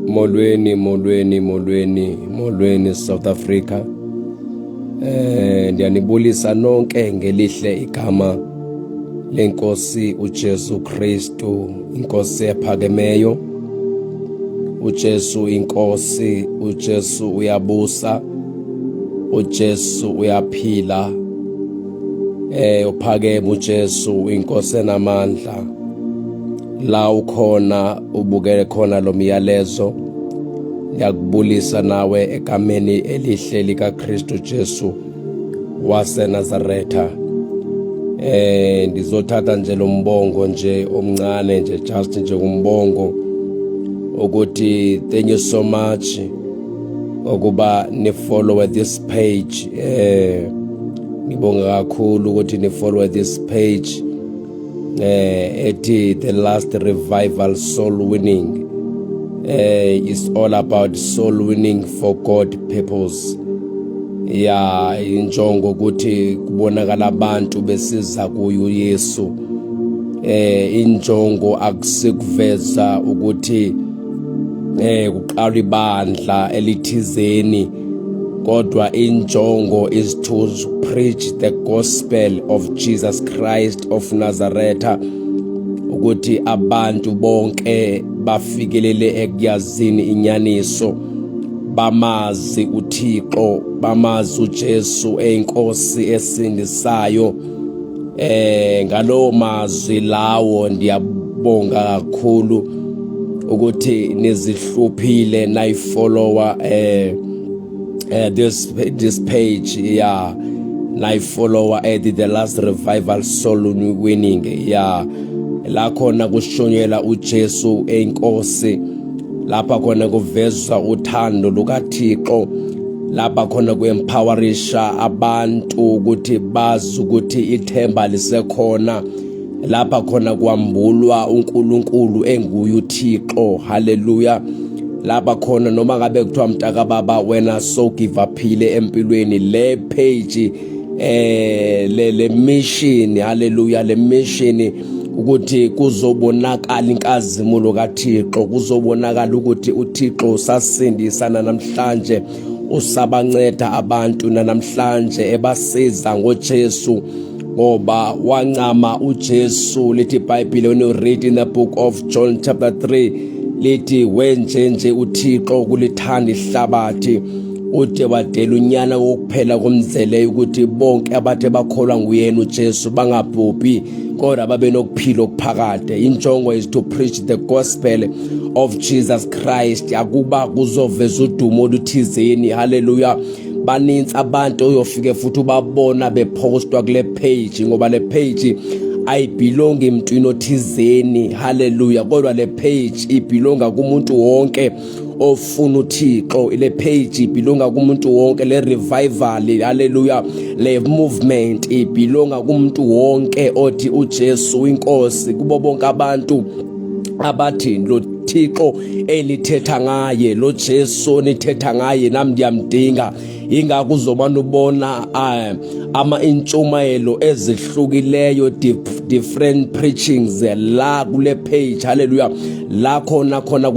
Molweni, molweni, molweni, molweni South Africa. Eh ndiyanibulisa nonke ngelihle igama lenkosi uJesu Kristu, inkosi ephakemeyo. uJesu inkosi uJesu uyabusa uJesu uyaphila eh uphakeme uJesu inkosi enamandla la ukhona ubukele khona lo myalezo ngiyakubulisa nawe egameni elihle likaKristu Jesu waseNazaretha eh ngizothatha nje lo mbongo nje omncane nje just nje umbongo ukuthi thank you so much ukuba ni follow this page eh ngibonga kakhulu ukuthi ni follow this page eh ethi the last revival soul winning eh is all about soul winning for God purpose ya injongo ukuthi kubonakala abantu besiza kuyo Yesu eh injongo akusikuveza ukuthi eh kuqala ibandla elithizeni kodwa injongo is to preach the gospel of Jesus Christ of Nazareth ukuthi abantu bonke bafikelele ekuyazini inyaniso bamazi uThixo bamazi uJesu eyinkosi esindisayo eh ngalowo mazwi lawo ndiyabonga kakhulu ukuthi nizihluphile nayifollower eh uh, this this page yeah live follower at the last revival soul winning yeah la khona kushonyela uJesu enkosi lapha khona kuveza uthando lukaThixo lapha khona kuempowerisha abantu ukuthi bazi ukuthi ithemba lisekhona lapha khona kwambulwa uNkulunkulu enguye uThixo haleluya lapha khona noma ngabe kuthiwa mtaka baba wena so give uphile empilweni le page eh le le mission haleluya le mission ukuthi kuzobonakala inkazimulo kaThixo kuzobonakala ukuthi uThixo usasindisana namhlanje usabanceda abantu nanamhlanje ebasiza ngoJesu ngoba wancama uJesu lithi iBhayibheli when you read in the book of John chapter 3 lithi wenjenje uThixo kulithanda ihlabathi ude wadela unyana wokuphela komzeleyo ukuthi bonke abathe bakholwa nguyena uJesu bangabhubhi kodwa babe nokuphila okuphakade injongo is to preach the gospel of Jesus Christ akuba kuzoveza udumo oluthizeni haleluya baninzi abantu oyofike futhi ubabona bephostwa kule page ngoba le page ayibhilongi emntwini othizeni haleluya kodwa le page ibhilonga kumuntu wonke ofuna uThixo ile page ibhilonga kumuntu wonke le revival haleluya le movement ibhilonga kumuntu wonke othi uJesu inkosi kubo bonke abantu abathi lo Thixo enithetha ngaye lo Jesu nithetha ngaye nami ndiyamdinga ingakho uzomane ubona eh, ama-intshumayelo ezihlukileyo different preachings eh, la kule page haleluya la khona khona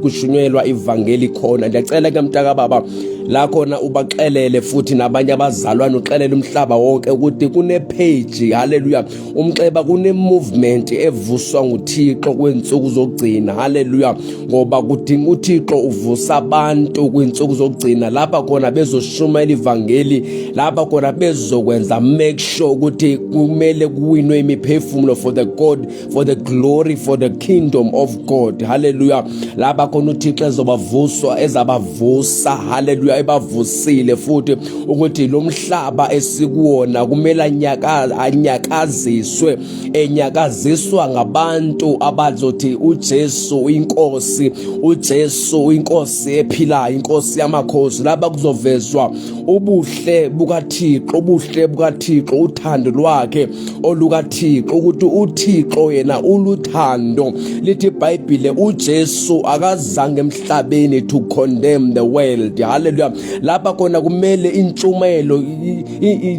kushunyelwa ivangeli khona ndiyacela ke mntaka baba la khona ubaxelele futhi nabanye abazalwane uxelele umhlaba wonke ukuthi kune-page haleluya umxeba kunemovement evuswa nguthixo kwiintsuku zokugcina halleluya ngoba kudinga uthixo uvusa abantu kwiintsuku zokugcina lapha khona bezoshumayela ivangeli lapha khona bezokwenza make sure ukuthi kumele kuwinwe imiphefumulo for the god for the glory for the kingdom of god halleluya lapha khona uthixo ezobavuswa ezabavusa halleluya ebavusile futhi ukuthi lo mhlaba esikuwona kumele anyakaziswe enyakaziswa ngabantu abazothi uJesu uyinkosi uJesu uyinkosi ephilayo inkosi yamakhosi laba kuzovezwa ubuhle bukaThixo ubuhle bukaThixo uthando lwakhe olukaThixo ukuthi uThixo yena uluthando lithi iBhayibhile uJesu akazange emhlabeni to condemn the world haleluya lapha khona kumele intshumayelo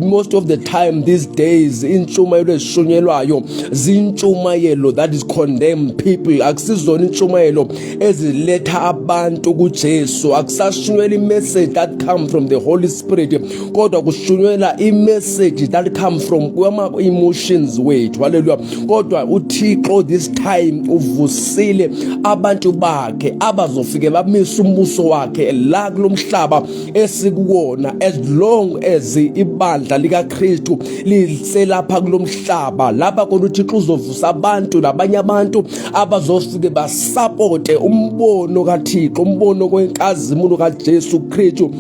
most of the time these days intshumayelo ezishunyelwayo zintshumayelo that is condemn people akusizona intshumayelo eziletha abantu kuJesu akusashunyela imessage that come from the holy spirit kodwa kushunyela imessage that come from kwama emotions wethu haleluya kodwa uthixo this time uvusile abantu bakhe abazofike bamise umbuso wakhe la kulomhlaba esikuwona as long as ibandla likaKristu liselapha kulomhlaba lapha kona uthixo uzovusa abantu nabanye abantu abazofike basapote umbono kaThixo umbono kwenkazimulo kaJesu Kristu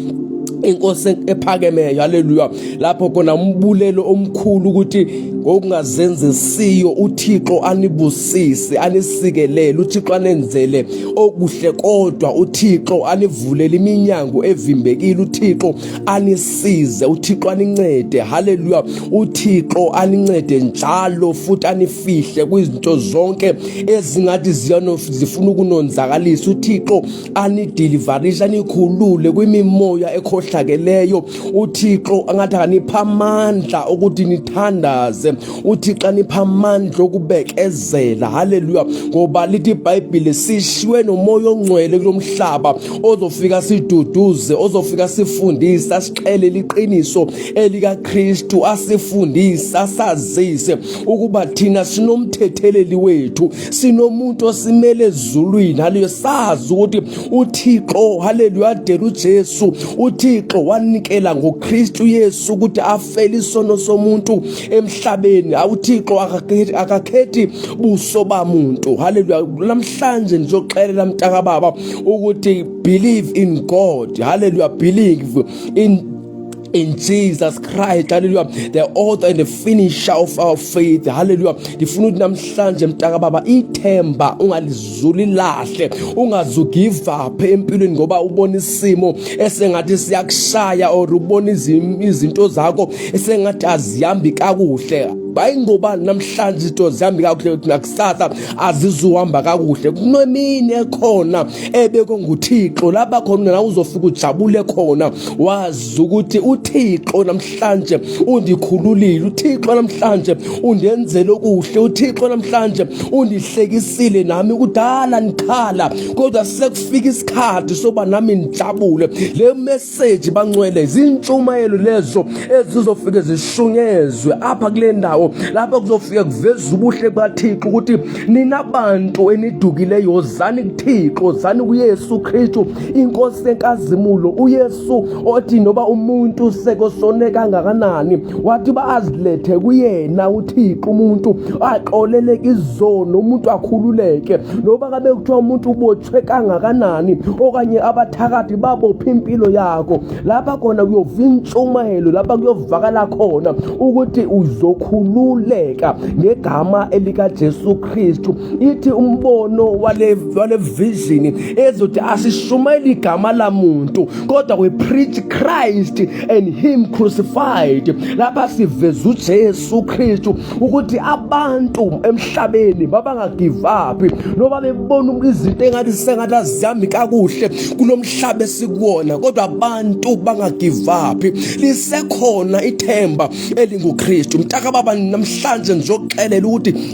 inkosi ephakemeyo haleluya lapho khona umbulelo omkhulu ukuthi ngokungazenzisiyo uThixo anibusise anisikelele uThixo anenzele okuhle kodwa uThixo anivulele iminyango evimbekile uThixo anisize uThixo anincede haleluya uThixo anincede njalo futhi anifihle kwizinto zonke ezingathi ziyano zifuna ukunonzakalisa uThixo anidilivarisha nikhulule kwimimoya ekhohlakeleyo uthixo angathi anipha amandla ukuthi nithandaze uthixo anipha amandla okubekezela haleluya ngoba lithi ibhayibhile sishiywe nomoya ongcwele kulo mhlaba ozofika siduduze ozofika sifundise asixele liqiniso elikakristu asifundise asazise ukuba thina sinomthetheleli wethu sinomuntu osimele ezulwini haleluya sazi ukuthi uthixo haleluya adela ujesu uthixo wanikela ngokristu yesu ukuthi afele isono somuntu emhlabeni awuthixo akakhethi buso bamuntu haleluya namhlanje ngizoxelela mntaka baba ukuthi believe in god haleluya believe in In Jesus Christ, hallelujah. The author and the finisher of our faith, hallelujah. Ndifuna ukuthi namhlanje mntaka baba ithemba ungalizuli lahle, ungazu give up empilweni ngoba ubona isimo esengathi siyakushaya or ubona izinto zakho esengathi azihambi kakuhle. Bayingobani namhlanje izinto zihambi kakuhle kusasa azizuhamba kakuhle kunemini ekhona ebekwe nguthixo lapha khona na uzofika ujabule khona wazi ukuthi uthixo namhlanje undikhululile uthixo namhlanje undenzele okuhle uthixo namhlanje undihlekisile nami kudala ndikhala kodwa sekufika isikhathi soba nami ndijabule le abaseji bancwele zintshumayelo lezo ezizofike zishunyezwe apha kule ndawo lapha kuzofike kuveza ubuhle bukathixo ukuthi nina bantu enidukileyo zani kuthixo zani kuyesu kristu inkosi enkazimulo uyesu othi noba umuntu sekosone kangakanani wathi uba azilethe kuyena uthixo umuntu axoleleke izono umuntu akhululeke noba kabe kuthiwa umuntu ubotshwe kangakanani okanye abathakathi babophe impilo yakho lapha khona kuyova intshumayelo lapha kuyovakala khona ukuthi uzokhululeka ngegama elikajesu kristu ithi umbono wale wale vision ezothi asishumayeli igama lamuntu kodwa we preach Christ and him crucified lapha siveza uJesu Kristu ukuthi abantu emhlabeni babanga give up noba bebona izinto engathi sengathi azihambi kakuhle kulomhlaba esikuwona kodwa abantu banga give up lisekhona ithemba elinguKristu mtaka baba namhlanje ngizoxelela ukuthi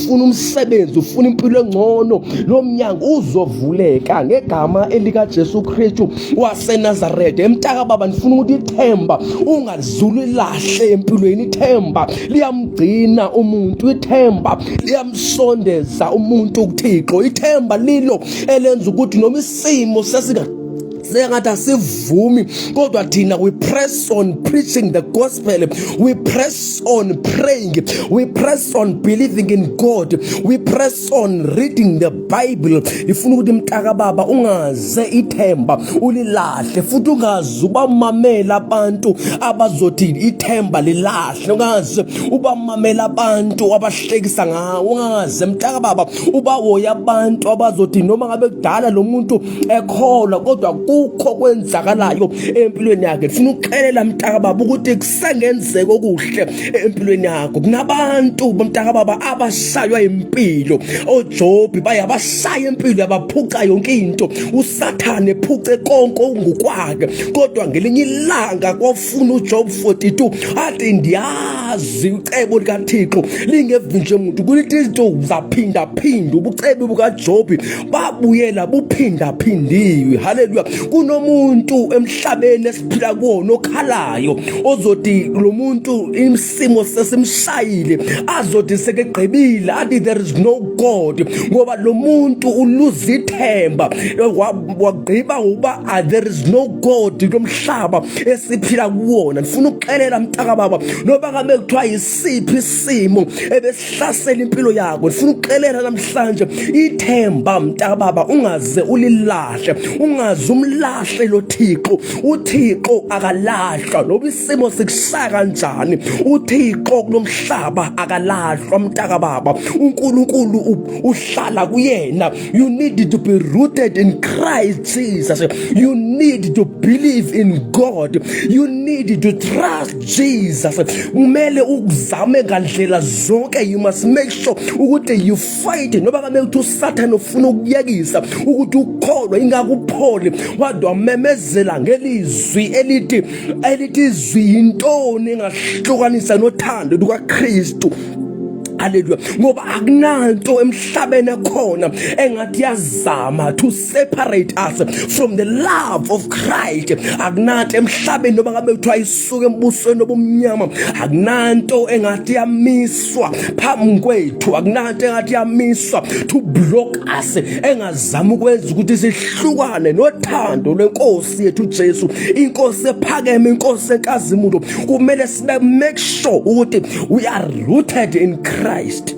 ufuna umsebenzi ufuna impilo engcono lo mnyango uzovuleka ngegama elikaJesu Kristu waseNazareth emtaka baba ndifuna ukuthi ithemba ungazulu lahle empilweni ithemba liyamgcina umuntu ithemba liyamsondeza umuntu kuThixo ithemba lilo elenza ukuthi noma isimo sesika sengathi asivumi kodwa thina we press on preaching the gospel we press on praying we press on believing in god we press on reading the bible ifuna ukuthi mtaka baba ungaze ithemba ulilahle futhi ungaze ubamamela abantu abazothi ithemba lilahle ungaze ubamamela abantu abahlekisa ngawo ungaze mtaka baba ubawoya abantu abazothi noma ngabe kudala lo muntu ekholwa kodwa kukho kwenzakalayo empilweni yakhe funa ukuxelela mntaka baba ukuthi kusengenzeka okuhle empilweni yakho kunabantu mntaka baba abashaywa impilo oJobi baye abashaya impilo yabaphuca yonke into usathane ephuce konke okungukwakhe kodwa ngelinye ilanga funa uJob 42 athi ndiyazi ucebo likaThixo lingevi nje muntu kulithi izinto zaphinda phinda ubucebe bukaJobi babuyela buphinda phindiwe haleluya kunomuntu emhlabeni esiphila kuwona okhalayo ozoti lo muntu isimo sesimshayile azothi sekegqibile athi there is no god ngoba lo muntu uluza ithemba wagqiba ngokuba ah, there is no god lomhlaba esiphila kuwona ndifuna ukuxelela mntakababa noba kabe kuthiwa yisiphi isimo hlasela impilo yakho ndifuna ukuxelela namhlanje ithemba mntababa ungaze ulilahle ungaze umlahle lo thixo uthixo akalahlwa loba isimo sikushaya kanjani uthixo kulo mhlaba akalahlwa mntakababa unkulunkulu uhlala kuyena you need to be rooted in christ jesus you need to believe in god you need to trust Jesus kumele ukuzame ngandlela zonke you must make sure ukuthi you fight noba kame ukuthi usathane ufuna ukuyekisa ukuthi ukholwe ingakupholi wade wamemezela ngelizwi elithi elithi izwi yintoni engahlukanisa nothando lukaKristu haleluya ngoba akunanto emhlabeni ekhona engathi yazama to separate us from the love of Christ akunanto emhlabeni noma ngabe kuthiwa isuke embusweni obumnyama akunanto engathi yamiswa phambi kwethu akunanto engathi yamiswa to block us engazama ukwenza ukuthi sihlukane nothando lwenkosi yethu Jesu inkosi ephakeme inkosi enkazimulo kumele sibe make sure ukuthi we are rooted in Christ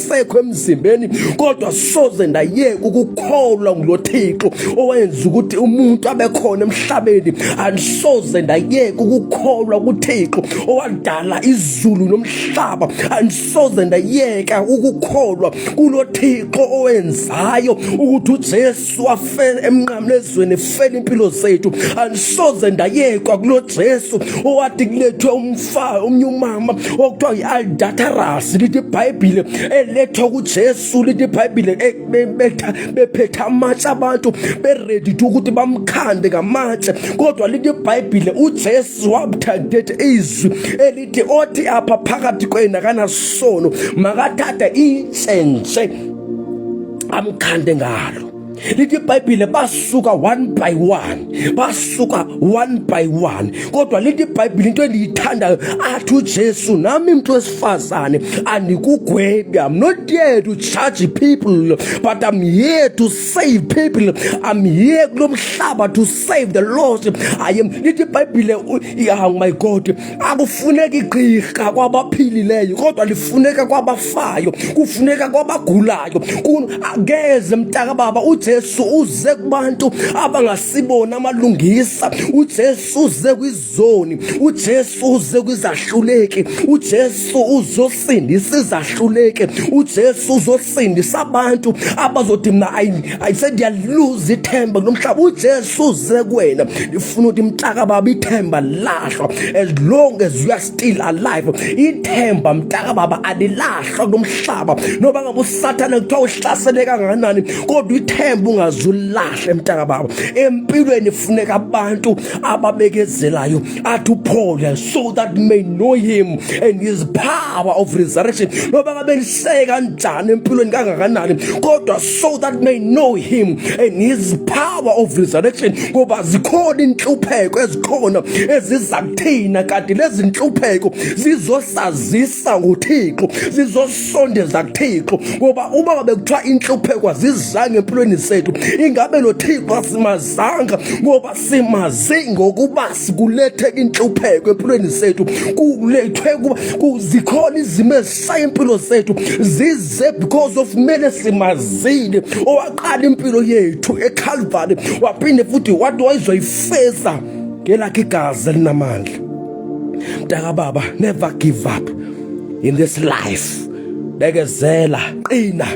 ayisekho emzimbeni kodwa soze ndayeka ukukholwa ngulo Thixo owenza ukuthi umuntu abe khona emhlabeni andisoze ndayeka ukukholwa kuThixo owadala izulu nomhlaba andisoze ndayeka ukukholwa kulo Thixo owenzayo ukuthi uJesu Jesu wafela emnqamlezweni efela impilo zethu andisoze ndayekwa kulo Jesu owathi kulethwe umfa omnye umama okuthiwa yi-aldatarasi lithi ibhayibhile elethwa kujesu lithi ibhayibhile bephetha amatshe abantu beredi to ukuthi bamkhande ngamatshe kodwa lithi ibhayibhile ujesu wabuthandethi izwi elithi othi apha phakathi kwena kanasono makathathe intshentshe amkhande ngalo lithi ibhayibhile basuka one by one basuka one by one kodwa lithi ibhayibhile into endiyithandayo athi ujesu nami mntu wesifazane andikugwebi i'm not here to charge people but i'm here to save people i'm here kulo mhlaba to save the lost i am lithi ibhayibhile oh my god akufuneki gqirha kwabaphilileyo kodwa lifuneka kwabafayo kufuneka kwabagulayo ngeze mntaka baba ujesu uze kubantu abangasibona amalungisa ujesu uze kwizoni ujesu uze kwizahluleki ujesu uzo sindisa izahluleke uJesu uzosindisa abantu abazothi mina ayi sendiyaluza ithemba nomhlaba uJesu uze kuwena ndifuna ukuthi mtaka baba ithemba lahlwa as long as you are still alive ithemba mtaka baba alilahlwa nomhlaba noba ngabe usathane kuthiwa uhlasele kangakanani kodwa ithemba ungazulahle mtaka baba empilweni funeka abantu ababekezelayo athi uphole so that may know him and his power of resurrection noba ngabe liseke kanjani empilweni kangakanani kodwa so that may know him and his power of resurrection ngoba zikhona inhlupheko ezikhona eziza kuthina kanti lezi nhlupheko zizosazisa ngothixo zizosondeza kuthixo ngoba uma ngabe kuthiwa inhlupheko azizange empilweni zethu ingabe lo thixo asimazanga ngoba simazi ngokuba sikulethe inhlupheko empilweni zethu kulethwe kuba zikhona izimo ezishaye impilo zethu zize because of kumele simazile owaqala impilo yethu ekhalvari waphinde futhi wathi wayizoyifeza ngelakhe igazi elinamandla mntakababa never give up in this life bekezela qina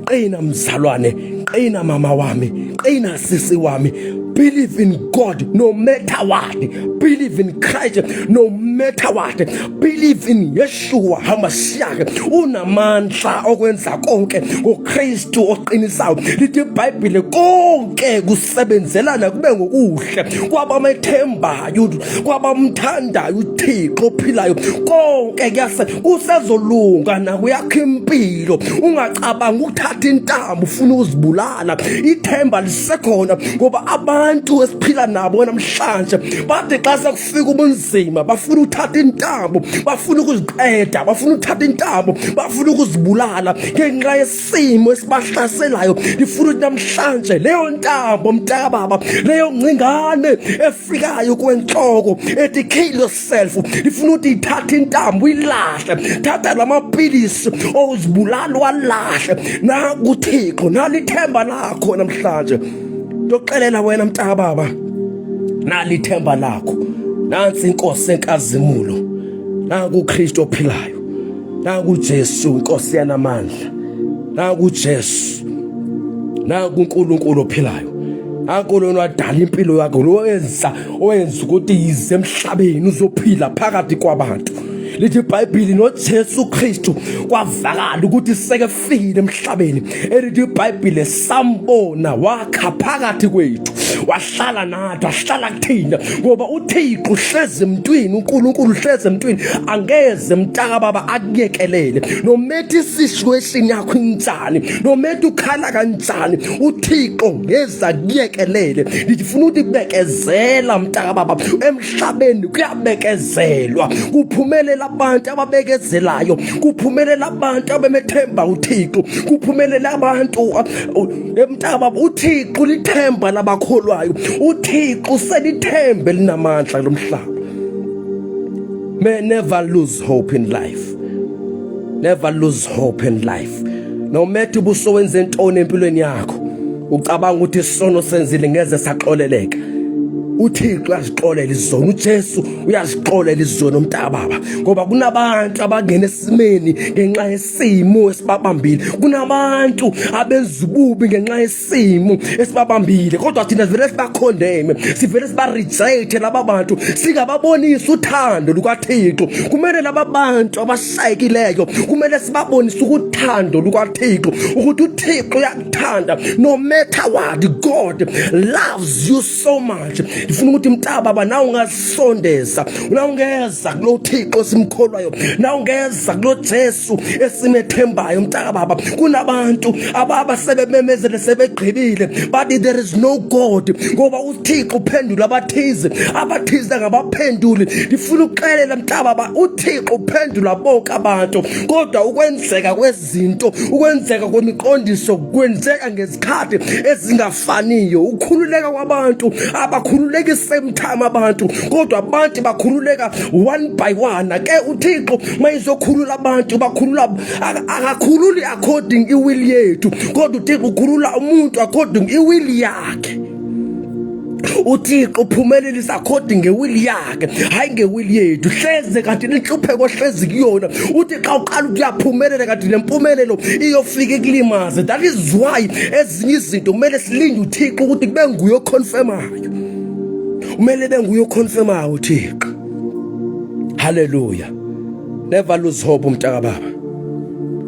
qina mzalwane qina mama wami qina sisi wami believe in god no matter what believe in christ no matter what believe in yeshua hamashiake unamandla okwenza konke ngokristu oqinisayo lithi ibhayibhile konke kus sebenzelana kube ngokuhle kwabamethembayo kwabamthandayo uthixo ophilayo konke kuyase kusezolunga nakuyakho impilo ungacabanga ukuthatha intambo ufuna uzibulala ithemba lisekhona ngoba abantu esiphila nabo namhlanje bathi xa sekufika ubunzima bafuna ukuthatha intambo bafuna ukuziqeda bafuna ukuthatha intambo bafuna ukuzibulala ngenxa simo esibahlaselayo ngifuna ukuthi namhlanje leyo ntambo mntakababa leyo ngcingane efikayo kwenhloko ethi kill yourself ngifuna ukuthi ithathe intambo uyilahle thatha lamapilisi owuzibulala walahle naku Thixo nalithemba lakho namhlanje ndoxelela wena mntakababa nalithemba lakho nansi inkosi enkazimulo naku Kristo ophilayo naku Jesu inkosi yanamandla naku Jesu naku uNkulunkulu ophilayo Akho lona wadala impilo yakho lo wenza owenza ukuthi yize emhlabeni uzophila phakathi kwabantu lithi iBhayibheli noJesu Kristu kwavakala ukuthi seke ufikile emhlabeni elithi ibhayibhile sambona wakha phakathi kwethu wahlala nathi wahlala kuthina ngoba uthixo uhlezi emntwini unkulunkulu uhlezi emntwini angeze mtaka baba akuyekelele nomethi isishu esini yakho injani nomethi ukhala kanjani uthixo ngeze akuyekelele ndifuna ukuthi bekezela mtaka baba emhlabeni kuyabekezelwa kuphumelela abantu ababekezelayo kuphumelela abantu abemethemba uThixo kuphumelela abantu emntaba uThixo lithemba labakholwayo uThixo selithembe linamandla lomhlaba may never lose hope in life never lose hope in life no matter ubuso wenze intoni empilweni yakho ucabanga ukuthi isono senzile ngeze saxoleleka uThixo azixolele izona uJesu uyazixolela izono mntaka baba ngoba kunabantu abangena esimeni ngenxa yesimo esibabambile kunabantu abenza ububi ngenxa yesimo esibabambile kodwa thina sivele sibakhondeme sivele sibarejecte laba bantu singababonisa uthando lukathixo kumele laba bantu abashayekileyo kumele sibabonise ukuthando lukathixo ukuthi uthixo uyakuthanda no matter what god loves you so much ndifuna ukuthi mtaba ba nawe ungasondeza nawe ungeza kulo Thixo simkholwayo nawe ungeza kulo Jesu esimethembayo mtaka baba kunabantu ababa sebememezele sebegqibile bathi there is no god ngoba uThixo uphendula abathize abathize ngabaphenduli ndifuna ukuxelela mtaba ba uThixo uphendula bonke abantu kodwa ukwenzeka kwezi zinto ukwenzeka kwemiqondiso kwenzeka ngezikhathi ezingafaniyo ukhululeka kwabantu abakhululeki same time abantu kodwa abantu bakhululeka one by one ke uThixo mayizokhulula abantu bakhulula akakhululi according iwill yethu kodwa uThixo ukhulula umuntu according iwill yakhe uthixo uphumelelise according ngewili yakhe hhayi ngewili yethu hleze kanti nenhlupheko ohlezi kuyona uthi xa uqala ukuyaphumelela kanti nempumelelo iyofike kulimaze that is why ezinye izinto kumele silinde uthixo ukuthi kube nguye okhonfemayo kumele be nguye okhonfemayo uthixo haleluya never lose hope umntakababa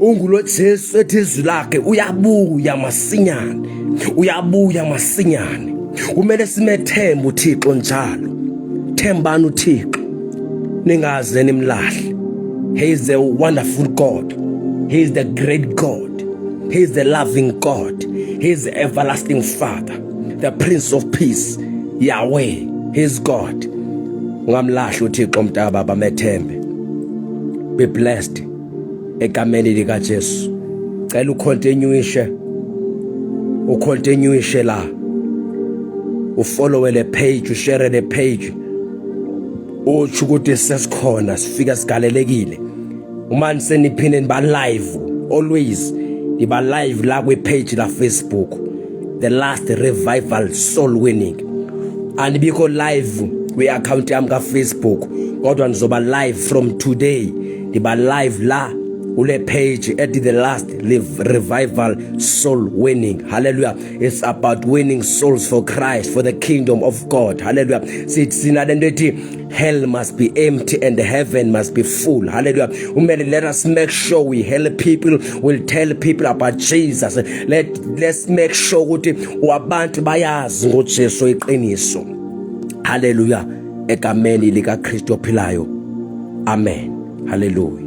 ungulo Jesu ethi izwi lakhe uyabuya masinyane uyabuya masinyane kumele simethembe uThixo njalo thembani uThixo ningaze nimlahle he is a wonderful god he is the great god he is the loving god he is the everlasting father the prince of peace yahweh he is god ungamlahle uThixo mntaba bamethembe be blessed egameni lika Jesu cela ucontinuishe ucontinuishe la ufollowe le page ushare le page uthi ukuthi sesikhona sifika sigalelekile uma niseniphinde niba live always niba live la kwi page la Facebook the last revival soul winning andibikho live kwi account yami ka Facebook kodwa nizoba live from today ngiba live la kule page at the last live revival soul winning hallelujah it's about winning souls for Christ for the kingdom of God hallelujah sithi sina lento ethi hell must be empty and heaven must be full hallelujah umele let us make sure we help people will tell people about Jesus let let's make sure ukuthi abantu bayazi ngoJesu iqiniso hallelujah egameni likaKristu ophilayo. Amen. Hallelujah.